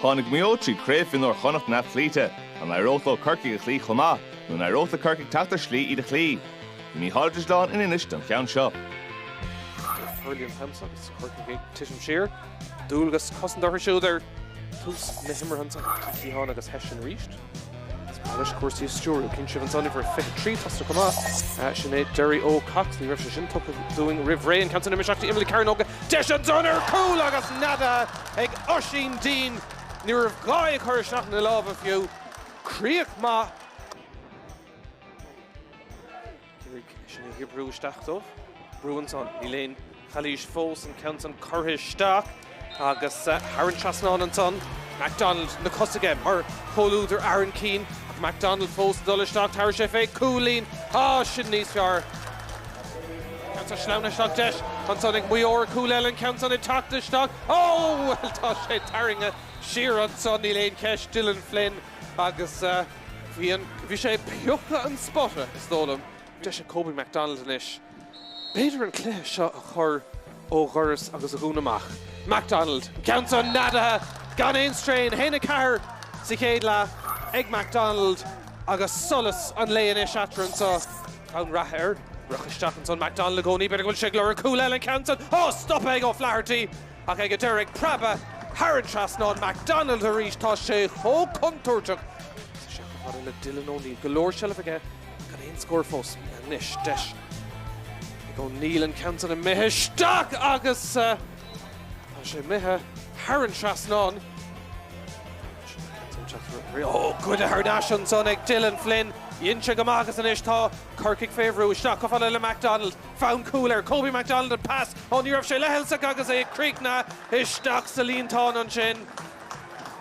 Tháinig Maigh Eo tríd Craobh Mhionúir Chonnacht neamhchloíte. An éireodh leo Corcaigh a chloí chomh maith, nó an éireodh le Corcaigh teacht ar shlí iad a chloí? Bhí Mícheál Ó Duibhsleáin in Inis don cheann seo. Bhí Julian Thoms agus Corcaigh ag titim siar. Dualgas cosanta orthu siúd ar tús na himeartha ach bhí Keys ann agus Hession arís. Anois cúrsaí a stiúradh. Chíonn sibh ansan uimhir 23 tosaithe chomh maith, sin é Derry Cox. Ní raibh sé sin tugtha dúinn roimh ré. An ceann san imithe isteach dtí imeall na cearnóige deis ansan ar chúl agus neadaithe ag Oisín Deane. Ní raibh gá aige é a chur isteach ina lámha fiú. Críoch maith. Hession ag oibriú isteach dóibh. Brú ansan. Níl aon chalaois fós. An ceann san curtha isteach agus thar an trasnán ansan. McDonald na cosa aige mar chomhluadar Aaron Keane. Ach McDonald fós ag dul isteach. Tabharfaidh sé fé cúilín. Tá sin níos fearr. An ceann san sleamhnaithe isteach deis ansan ag Maigh Eo. Cúl eile an ceann san ag teacht isteach. Ó! Bhuel tá sé tarraingthe siar ansan. Níl aon cheist. Dylan Flynn agus. Bhí an, bhí sé ag piocadh an spota, is dóigh liom. Deis ag Kobe McDonald anois, b'fhéidir an cluiche seo a chur ó dhoras agus a dhúnadh amach. McDonald, an ceann san neadaithe gan aon straidhn, 1-4 sa chéad leath ag McDonald agus solas an lae anois eatarthu anseo. Ceann reatha ag rith isteach ansan McDonald i gcónaí, b'fhéidir go bhfuil sé ag lorg cúl eile an ceann san, á stopadh ag O'Flaherty! Ach é ag an deireadh ag preabadh thar an trasnán McDonald arís. Tá sé chomh contúirteach agus bhí sé chomh fada le Dylan O'Neill. Go leor seilbh aige ach gan aon scór fós. Anois deis ag O'Neill an ceann san imithe isteach agus tá sé imithe thar an trasnán. Goidte thar n-ais ansan ag Dylan Flynn. Dhein sé go maith agus anois tá Corcaigh fé bhrú. Isteach chomh fada le McDonald. Fonn cúil ar Kobe McDonald an pas ó ní raibh sé leithleasach agus é ag críochnú isteach sa líontán ansin.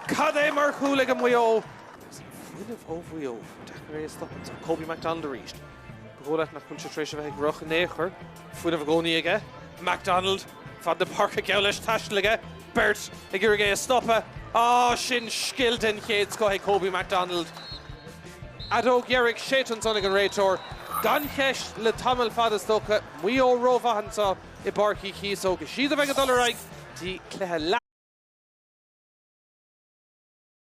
Cad é mar chúl ag Maigh Eo? Agus an fuinneamh ó Mhaigh Eo, deacair é a stopadh, tá Kobe McDonald arís. Ba dhóigh leat nach bhfuil sé tar éis a bheith ag rith in aon chor. Fuinneamh i gcónaí aige McDonald. Fad na páirce geall leis taistealta aige, beirt ag iarraidh é a stopadh. Ah sin scil den chéad scoth ag Kobe McDonald. Fheadóg dheiridh séidte ansan ag an réiteoir. Gan cheist, le tamall fada is dócha, Maigh Eo rómhaith anseo i bPáirc Uí Chíosóg. Is iad a bheidh ag dul ar aghaidh dtí cluiche leath.